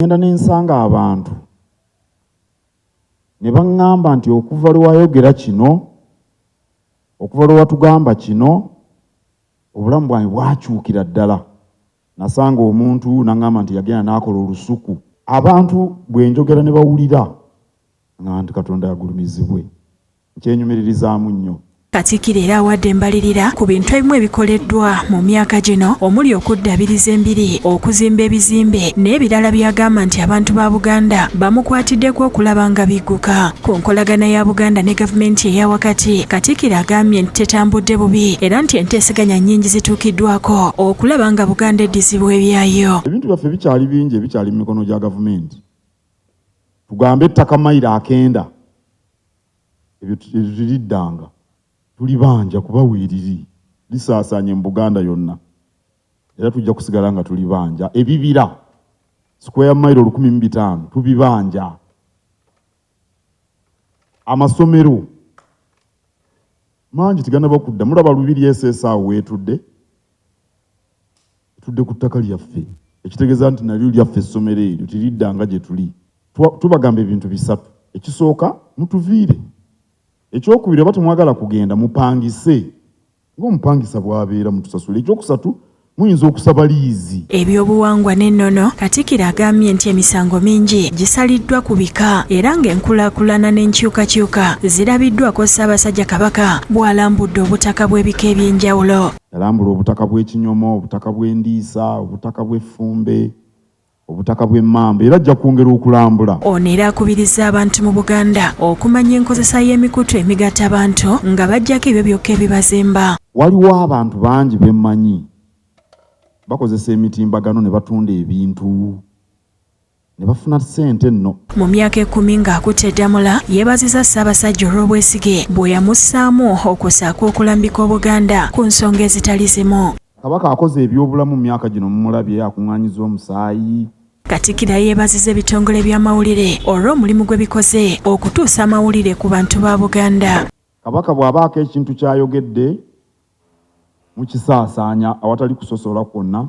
ngenda ne nsanga abantu ne baŋŋamba nti okuva lwe wayogera kino okuva lwe watugamba kino obulamu bwange bwakyukira ddala nasanga omuntu naŋŋamba nti yagenda n'akola olusuku abantu bwe njogera ne bawulira nga nti katonda yagulumizibwe kyenyumiririzaamu nnyo. Katikkiro era awadde embalirira ku bintu ebimu ebikoleddwa mu myaka gino omuli okuddabiriza embiri, okuzimba ebizimbe n'ebirala by'agamba nti abantu ba Buganda bamukwatiddeko okulaba nga bigguka. Ku nkolagana ya Buganda ne gavumenti eya wakati, Katikkiro agambye nti tetambudde bubi era nti enteeseganya nnyingi zituukiddwako okulaba nga Buganda eddizibwa ebyayo. Ebintu byaffe bikyali bingi ebikyali mu mikono gya gavumenti. Tugambe ettaka mayiro akenda ebyotuliriddanga tulibanja kuba weriri lisaasaanye mu Buganda yonna era tujja kusigala nga tulibanja ebibira square mile olukumi mu bitaano tubibanja amasomero mangi teganaba kudda mulaba lubiri esesa awo wetudde tudde ku ttaka lyaffe ekitegeeza nti nalyo lyaffe essomero eryo tiriddanga gye tuli tubagamba ebintu bisatu ekisooka mutuviire ekyokubiri oba temwagala kugenda mupangise ngaomupangisa bwabeera mutusasula ekyokusatu muyinza okusaba liizi. Ebyobuwangwa n'ennono, Katikkiro agambye nti emisango mingi gisaliddwa ku bika era ng'enkulaakulana n'enkyukakyuka zirabiddwako Ssaabasajja Kabaka bw'alambudde obutaka bw'ebika eby'enjawulo. Yalambula obutaka bw'ekinyomo, obutaka bw'endiisa, obutaka bw'effumbe, obutaka bw'emmamba era ajja kwongera okulambula. Ono era akubirizza abantu mu Buganda okumanya enkozesa y'emikutu emigatta abantu nga bajjako ebyo byokka ebibazimba. Waliwo abantu bangi bemmanyi bakozesa emitimbagano ne batunda ebintu ne bafuna ssente nno. Mu myaka ekkumi ng'akutte Ddamula yeebaziza Ssaabasajja olw'obwesige bwe yamussaamu okusaako okulambika Obuganda ku nsonga ezitali zimu. Kabaka akoze ebyobulamu mu myaka gino mumulabye akung'anyiza omusaayi. Katikkiro ayeebaziza ebitongole by'amawulire olw'omulimu gwe bikoze okutuusa amawulire ku bantu ba Buganda. Kabaka bw'abaako ekintu ky'ayogedde mukisaasaanya awatali kusosola kwonna